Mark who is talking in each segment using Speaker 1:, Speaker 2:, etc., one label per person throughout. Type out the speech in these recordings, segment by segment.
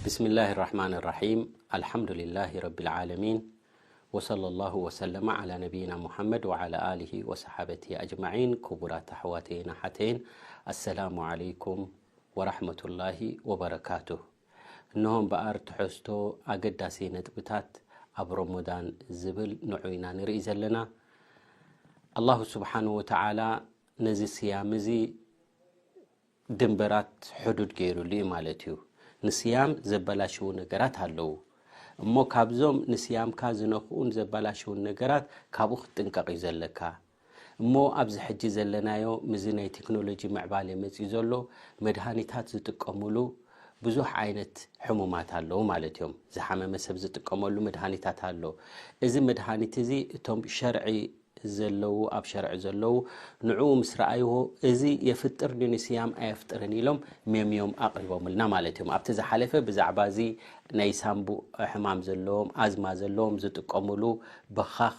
Speaker 1: ብስሚ ላህ ራሕማን ራሒም ኣልሓምዱላ ረቢ ዓለሚን ወሰለ ላሁ ወሰለማ ዓላ ነብይና ሙሓመድ ወዓላ ኣሊ ወሰሓበት ኣጅማዒን ክቡራት ኣሕዋተይን ኣሓተይን ኣሰላሙ ዓለይኩም ወራሕመቱላሂ ወበረካቱ እነሆ እምበኣር ትሕዝቶ ኣገዳሲ ነጥብታት ኣብ ሮሞዳን ዝብል ንዑ ኢና ንርኢ ዘለና ኣላሁ ስብሓን ወተዓላ ነዚ ስያም እዚ ድንበራት ሕዱድ ገይሩሉ እዩ ማለት እዩ ንስያም ዘበላሽዉ ነገራት ኣለዉ እሞ ካብዞም ንስያምካ ዝነክኡን ዘበላሽውን ነገራት ካብኡ ክትጥንቀቕ እዩ ዘለካ እሞ ኣብዚ ሕጂ ዘለናዮ ምዚ ናይ ቴክኖሎጂ ምዕባለ መጺኡ ዘሎ መድሃኒታት ዝጥቀምሉ ብዙሕ ዓይነት ሕሙማት ኣለዉ ማለት እዮም ዝሓመመ ሰብ ዝጥቀመሉ መድሃኒታት ኣሎ እዚ መድሃኒት እዚ እቶም ሸርዒ ዘለዉ ኣብ ሸርዒ ዘለዉ ንዕኡ ምስ ረኣይዎ እዚ የፍጥር ድዩ ንስያም ኣየፍጥርን ኢሎም ሜምዮም ኣቕሪቦምልና ማለት እዮም ኣብቲ ዝሓለፈ ብዛዕባ እዚ ናይ ሳምቡእ ሕማም ዘለዎም ኣዝማ ዘለዎም ዝጥቀምሉ በኻኽ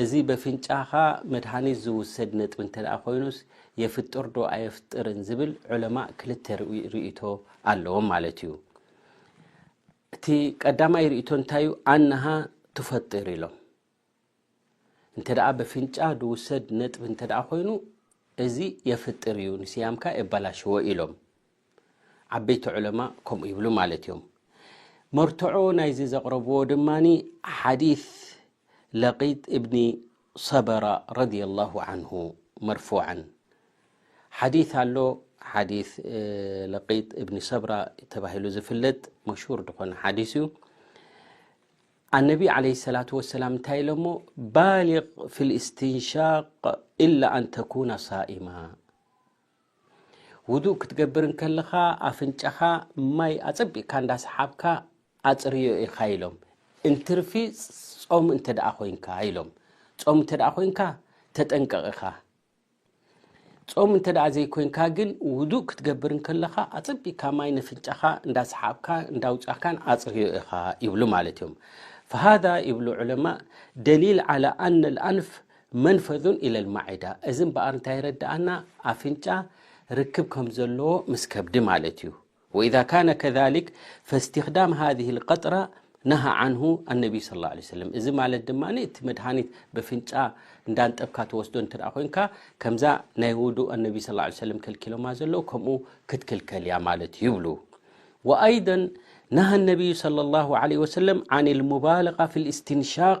Speaker 1: እዚ በፍንጫኻ መድሃኒት ዝውሰድ ነጥቢ እንተ ኾይኑስ የፍጥርዶ ኣየፍጥርን ዝብል ዑለማእ ክልተ ርእይቶ ኣለዎም ማለት እዩ። እቲ ቀዳማይ ርእይቶ እንታይ እዩ? ኣነሃ ትፈጥር ኢሎም። እንተ በፍንጫ ዝውሰድ ነጥቢ እንተ ኾይኑ እዚ የፍጥር እዩ ንስያምካ የባላሽዎ ኢሎም። ዓበይቲ ዑለማ ከምኡ ይብሉ ማለት እዮም መርትዖ ናይዚ ዘቕረብዎ ድማ ሓዲስ ለቂጥ እብኒ ሰበራ ረድያ ላሁ ዓንሁ መርፉዓን ሓዲስ ኣሎ ሓዲስ ለቂጥ እብኒ ሰብራ ተባሂሉ ዝፍለጥ መሽሁር ዝኾነ ሓዲስ እዩ ኣነቢ ዓለይ ሰላት ወሰላም እንታይ ኢሎ እሞ ባሊቅ ፊ ልእስትንሻቅ ኢላ ኣንተኩና ሳኢማ ውዱእ ክትገብር እንከለኻ ኣፍንጫኻ ማይ ኣጸቢቕካ እንዳሰሓብካ ኣጽርዮ ኢኻ ኢሎም እንትርፊ ጾም እንተ ደኣ ኮይንካ ኢሎም ጾም እንተ ደኣ ኮይንካ ተጠንቀቕ ኢኻ ጾም እንተ ደኣ ዘይኮይንካ ግን ውዱእ ክትገብር እንከለኻ ኣጸቢቕካ ማይ ነፍንጫኻ እንዳሰሓብካ እንዳውጻካን ኣጽርዮ ኢኻ ይብሉ ማለት እዮም ፈሃዳ ይብሉ ዑለማ ደሊል ዓላ ኣነ ኣልኣንፍ መንፈዙን ኢለል ማዒዳ እዚ እምበኣር እንታይ የረድኣና ኣፍንጫ ርክብ ከም ዘለዎ ምስ ከብዲ ማለት እዩ ወኢዛ ካነ ከዛሊክ ፈእስትክዳም ሃዚህ ልቀጥራ ነሃ ዓንሁ ኣነቢይ ስለ ላ ሰለም እዚ ማለት ድማ እቲ መድሃኒት በፍንጫ እንዳንጠብካ ተወስዶ እንተ ኮይንካ ከምዛ ናይ ውዱእ ኣነቢይ ስለ ላ ሰለም ከልኪሎማ ዘለዉ ከምኡ ክትክልከል እያ ማለት እዩ ይብሉ ወኣይደ ነሃ ኣነቢዩ ስለ ላ ለ ወሰለም ዓን ልሙባለቃ ፊ ልእስትንሻቅ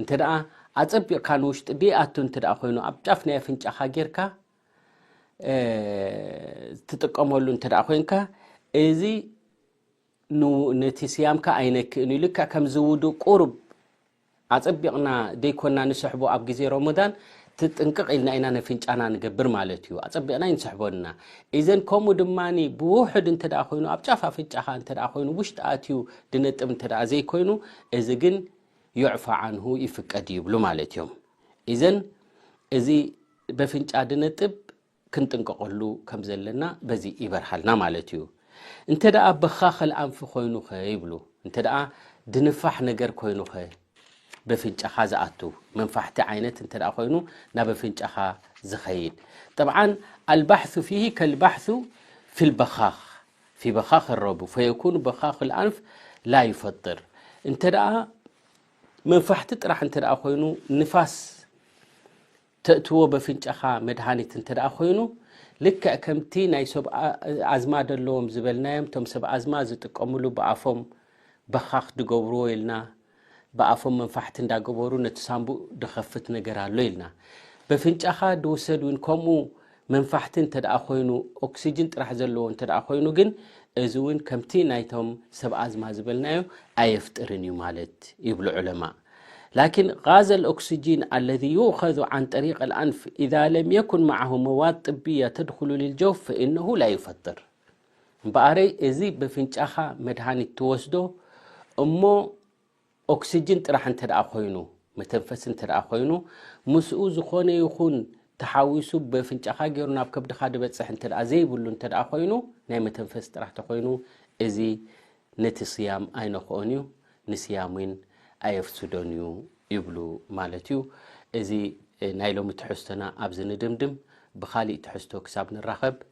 Speaker 1: እንተደኣ ኣጸቢቕካ ንውሽጢ ደይኣቱ እንተደኣ ኮይኑ ኣብ ጫፍ ናይ ኣፍንጫኻ ጌርካ ትጥቀመሉ እንተደኣ ኮንካ እዚ ነቲ ስያምካ ኣይነክእን እዩ ልክዕ ከምዚ ውዱእ ቁሩብ ኣጸቢቕና ደይኮና ንስሕቦ ኣብ ግዜ ሮሞዳን ትጥንቅቕ ኢልና ኢና ነፍንጫና ንገብር ማለት እዩ ኣጸቢቕና ይንስሕቦ ና እዘን ከምኡ ድማ ብውሕድ እንተ ኮይኑ ኣብ ጫፍ ኣፍንጫኻ እንተ ኮይኑ ውሽጢ ኣትዩ ድነጥብ እንተ ዘይኮይኑ እዚ ግን ዩዕፋ ዓንሁ ይፍቀድ ይብሉ ማለት እዮም ኢዘን እዚ በፍንጫ ድነጥብ ክንጥንቀቀሉ ከም ዘለና በዚ ይበርሃልና ማለት እዩ እንተ በኻ ከልኣንፊ ኮይኑኸ ይብሉ እንተ ድንፋሕ ነገር ኮይኑኸ በፍንጫኻ ዝኣቱ መንፋሕቲ ዓይነት እተ ኮይኑ ናብ ኣፍንጫኻ ዝኸይድ ጠብዓ ኣልባሕሱ ፊሂ ከልባሕሱ ፊልበኻኽ ፊ በኻኽ ኣረቡ ፈየኩኑ በኻኽ ኣልኣንፍ ላ ዩፈጥር እንተ መንፋሕቲ ጥራሕ እንተ ኮይኑ ንፋስ ተእትዎ በፍንጫኻ መድሃኒት እንተ ኮይኑ ልክዕ ከምቲ ናይ ሰብ ኣዝማ ደለዎም ዝበልናዮም እቶም ሰብ ኣዝማ ዝጥቀምሉ ብኣፎም በኻኽ ድገብርዎ ኢልና ብኣፎም መንፋሕቲ እንዳገበሩ ነቲ ሳንቡእ ድኸፍት ነገር ኣሎ ኢልና በፍንጫኻ ድውሰድ እውን ከምኡ መንፋሕቲ እንተደኣ ኮይኑ ኦክሲጅን ጥራሕ ዘለዎ እንተደኣ ኮይኑ ግን እዚ እውን ከምቲ ናይቶም ሰብ ኣዝማ ዝበልናዮ ኣየፍጥርን እዩ ማለት ይብሉ ዑለማእ ላኪን ጋዘ ልኦክሲጂን ኣለዚ ዩኸዙ ዓን ጠሪቅ ልኣንፍ ኢዛ ለም የኩን መዓሁ መዋድ ጥብያ ተድኩሉ ልልጀውፍ ፈኢነሁ ላ ዩፈጥር እምበኣረይ እዚ በፍንጫኻ መድሃኒት ትወስዶ እሞ ኦክስጅን ጥራሕ እንተ ደኣ ኮይኑ መተንፈሲ እንተ ደኣ ኮይኑ ምስኡ ዝኾነ ይኹን ተሓዊሱ በፍንጫኻ ገይሩ ናብ ከብድኻ ድበጽሕ እንተ ደኣ ዘይብሉ እንተ ደኣ ኮይኑ ናይ መተንፈሲ ጥራሕ ተኾይኑ እዚ ነቲ ስያም ኣይነክኦን እዩ ንስያም እውን ኣየፍስዶን እዩ ይብሉ ማለት እዩ እዚ ናይ ሎሚ ትሕዝቶና ኣብዚ ንድምድም ብኻሊእ ትሕዝቶ ክሳብ ንራኸብ